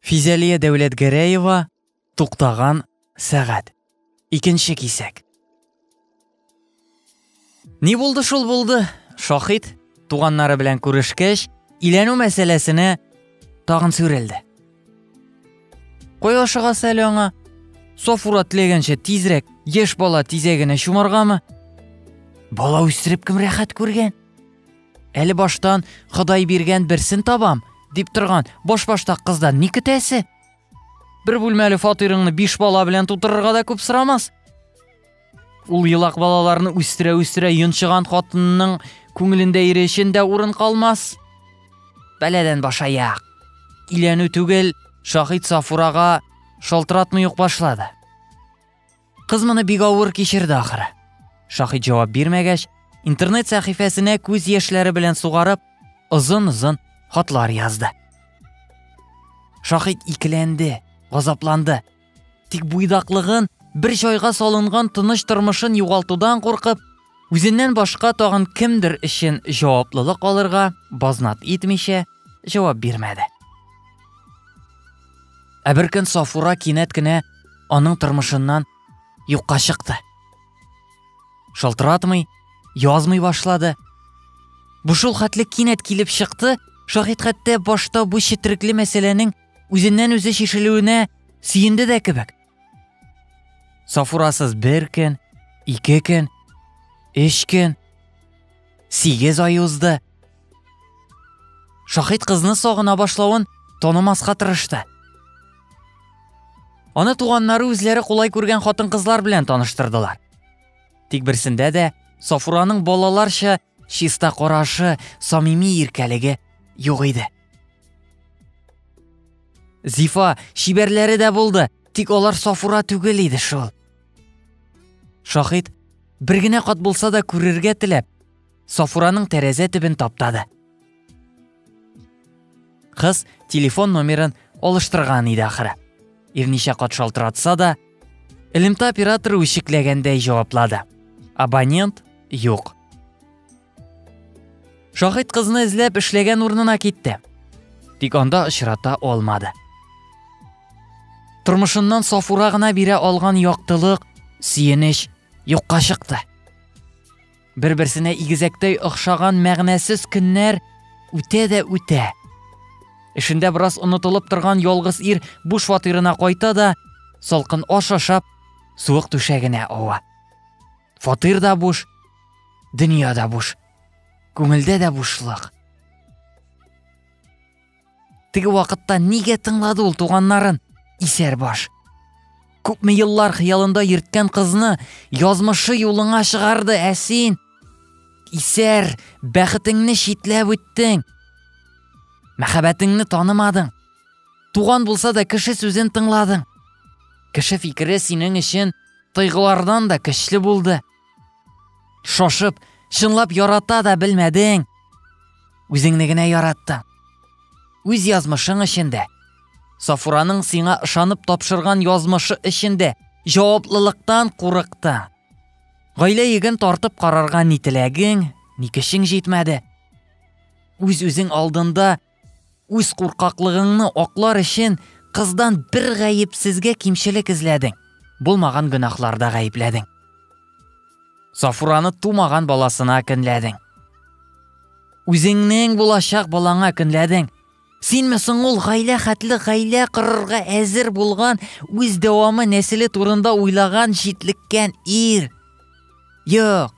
Физәлия Дәүләтгәрәева Туктаган сәгать. Икенче кисәк. Ни булды шул булды? Шахид туганнары белән күрешкәч, иләнү мәсьәләсенә тагын сүрелде. Кой ашыгасы әле аңа? Сафура теләгәнчә тизрәк яшь бала тизәгенә чумаргамы? Бала үстереп кем рәхәт күргән? Әле баштан Ходай биргән берсен табам, дип торган баш-баштак кыздан ни көтәсе? Бер бүлмәле фатирыңны биш бала белән тутырырга да күп сорамас. Ул елак балаларны үстерә-үстерә йончыган хатынның күңелендә ире өчен дә урын калмас. Бәләдән башаяк. Иләнү түгел, Шахид Сафурага шалтыратмый ук башлады. Кыз моны бик авыр кичерде ахыры. Шахид җавап бирмәгәч, интернет сәхифәсенә күз яшьләре белән сугарып, озын-озын хатлар язды. Шахид икеләнде, газапланды. Тик буйдаклыгын, бер чайга салынган тыныч тормышын югалтудан куркып, Үзеннән башка тагын кемдер өчен җаваплылык алырга базнат итмичә җавап бирмәде. Ә бер көн Сафура кинәт кенә аның тормышыннан юкка чыкты. Шалтыратмый, язмый башлады. Бу шул хәтле кинәт килеп чыкты, шаһит хәтта башта бу четерекле мәсьәләнең үзеннән үзе шешелүенә сөенде дә кебек. Сафурасыз бер көн, ике көн, өч көн, сигез ай узды. Шахид кызны сагына башлавын танымаска тырышты. Аны туганнары үзләре кулай күргән хатын-кызлар белән таныштырдылар. Тик берсендә дә Сафураның балаларча Чиста карашы, самими иркәлеге юк иде. Зифа чибәрләре дә булды, тик алар Сафура түгел иде шул. Шахид бер генә кат булса да күрергә теләп, Сафураның тәрәзә төбен таптады. Кыз телефон номерын алыштырган иде ахыры. Ирничә кат шалтыратса да, элемтә операторы үчекләгәндәй җаваплады. Абонент юк. Шахид кызны эзләп эшләгән урынына китте. Тик анда очрата алмады. Тормышыннан Сафура гына бирә алган яктылык, сөенеч юкка чыкты. Бер-берсенә игезәктәй охшаган мәгънәсез көннәр үтә дә үтә. Эшендә бераз онытылып торган ялгыз ир буш фатирына кайта да, салкын аш ашап, суык түшәгенә ава. Фатир да буш, дөнья да буш. Күңелдә дә бушлык. Теге вакытта нигә тыңлады ул туганнарын? Исәр баш. Күпме еллар хыялында йөрткән кызны язмышы юлыңа чыгарды, ә син исәр, бәхетеңне читләп үттең. Мәхәббәтеңне танымадың. Туган булса да кеше сүзен тыңладың. Кеше фикере синең өчен тойгылардан да көчле булды. Шошып, чынлап ярата да белмәдең. Үзеңне генә яраттың. Үз язмышың эчендә. Сафураның сиңа ышанып тапшырган язмышы эчендә җаваплылыктан курыкты. Гаилә йөген тартып карарга ни теләгең, ни көчең җитмәде. Үз-үзең алдында Үз куркаклыгыңны аклар өчен кыздан бер гаепсезгә кимчелек эзләдең. Булмаган гөнаһларда гаепләдең. Сафураны тумаган баласына көнләдең. Үзеңнең булачак балаңа көнләдең. Синме соң ул гаилә хәтле гаилә кырырга әзер булган, үз дәвамы нәселе турында уйлаган җитлеккән ир? Юк.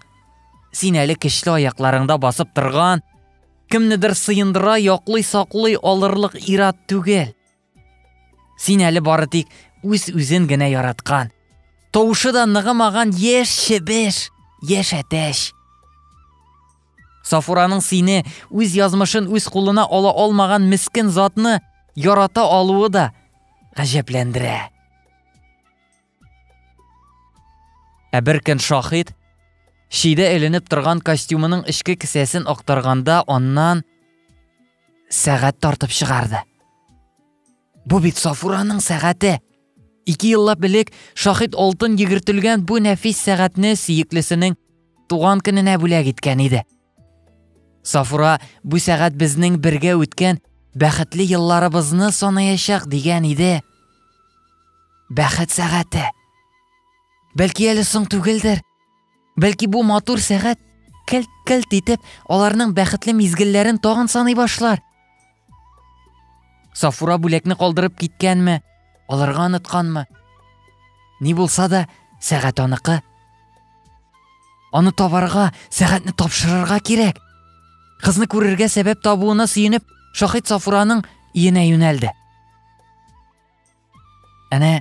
Син әле көчле аякларыңда басып торган, Кемнедер сыендыра, яклый, саклый алырлык ират түгел. Син әле бары тик үз-үзен генә яраткан. Тавышы да ныгымаган яшь чебеш, яшь әтәч. Сафураның сине үз язмышын үз кулына ала алмаган мискен затны ярата алуы да гаҗәпләндерә. Ә бер көн шахид чидә эленеп торган костюмының эчке кесәсен актарганда аннан сәгать тартып чыгарды. Бу бит Сафураның сәгате. Ике еллап элек шахид алтын йөгертелгән бу нәфис сәгатьне сөеклесенең туган көненә бүләк иткән иде. Сафура бу сәгать безнең бергә үткән бәхетле елларыбызны санаячак дигән иде. Бәхет сәгате. Бәлки әле соң түгелдер. Бәлки бу матур сәгать кәлт-кәлт итеп аларның бәхетле мизгелләрен тагын саный башлар. Сафура бүләкне калдырып киткәнме, алырга онытканмы? Ни булса да, сәгать аныкы. Аны табарга, сәгатьне тапшырырга кирәк. Кызны күрергә сәбәп табуына сөенеп, Шахид Сафураның иенә юнәлде. Әнә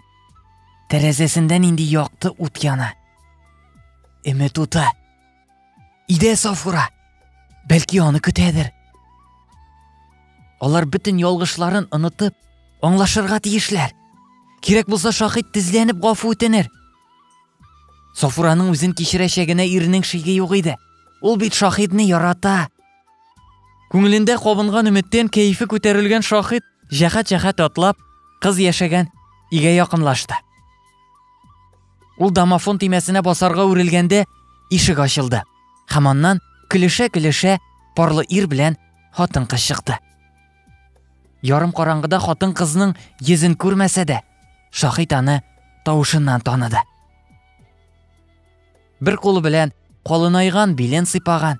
тәрәзәсендә нинди якты ут яна. Өмет уты. Идә Сафура. Бәлки аны көтәдер. Алар бөтен ялгышларын онытып, аңлашырга тиешләр. Кирәк булса шахид тезләнеп гафу үтенер. Сафураның үзен кичерәчәгенә иренең шиге юк иде. Ул бит шахидны ярата. Күңелендә кабынган өметтен кәефе күтәрелгән шахид җәхәт-җәхәт атлап, кыз яшәгән игә якынлашты. Ул домофон тимәсенә басарга үрелгәндә ишек ачылды. Һәм аннан көлешә-көлешә парлы ир белән хатын-кыз чыкты. Ярым караңгыда хатын-кызның йөзен күрмәсә дә, шахид аны тавышыннан таныды. Бер кулы белән калынайган билен сыйпаган,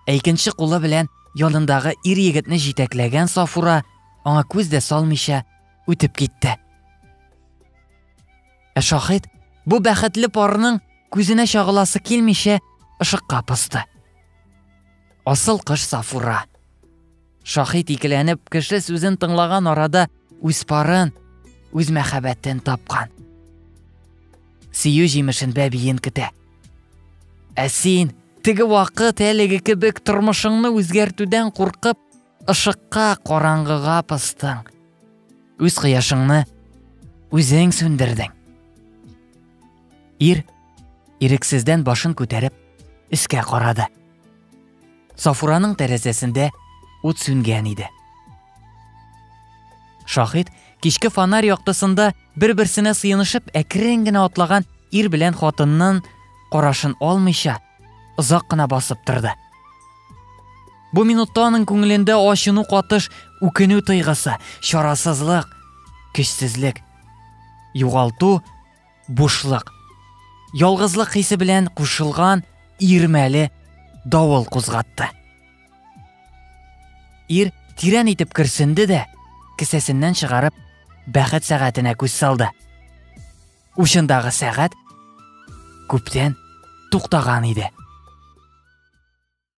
ә икенче кулы белән янындагы ир егетне җитәкләгән Сафура аңа күз дә салмыйча үтеп китте. Ә шахид бу бәхетле парның күзенә чагыласы килмичә ышыкка посты. Асыл кыш Сафура. Шаһит икеләнеп, кеше сүзен тыңлаган арада үз парын, үз мәхәббәтен тапкан. Сөю җимешен бәбиен көтә. Ә син теге вакыт әлеге кебек тормышыңны үзгәртүдән куркып, ышыкка караңгыга пыстың. Үз кояшыңны үзең сүндердең. Ир ирексездән башын күтәреп, өскә карады. Сафураның тәрәзәсендә ут сүнгән иде. Шахид кичке фонарь яктысында бер-берсенә сыенышып әкрен генә атлаган ир белән хатыннан карашын алмыйча озак кына басып торды. Бу минутта аның күңелендә ачыну катыш, үкенү тойгысы, чарасызлык, көчсезлек, югалту бушлык. Ялгызлык хисе белән кушылган ирмәле давыл кузгатты. Ир тирән итеп керсенде дә, кесәсеннән чыгарып, бәхет сәгатенә күз салды. Учындагы сәгать күптән туктаган иде.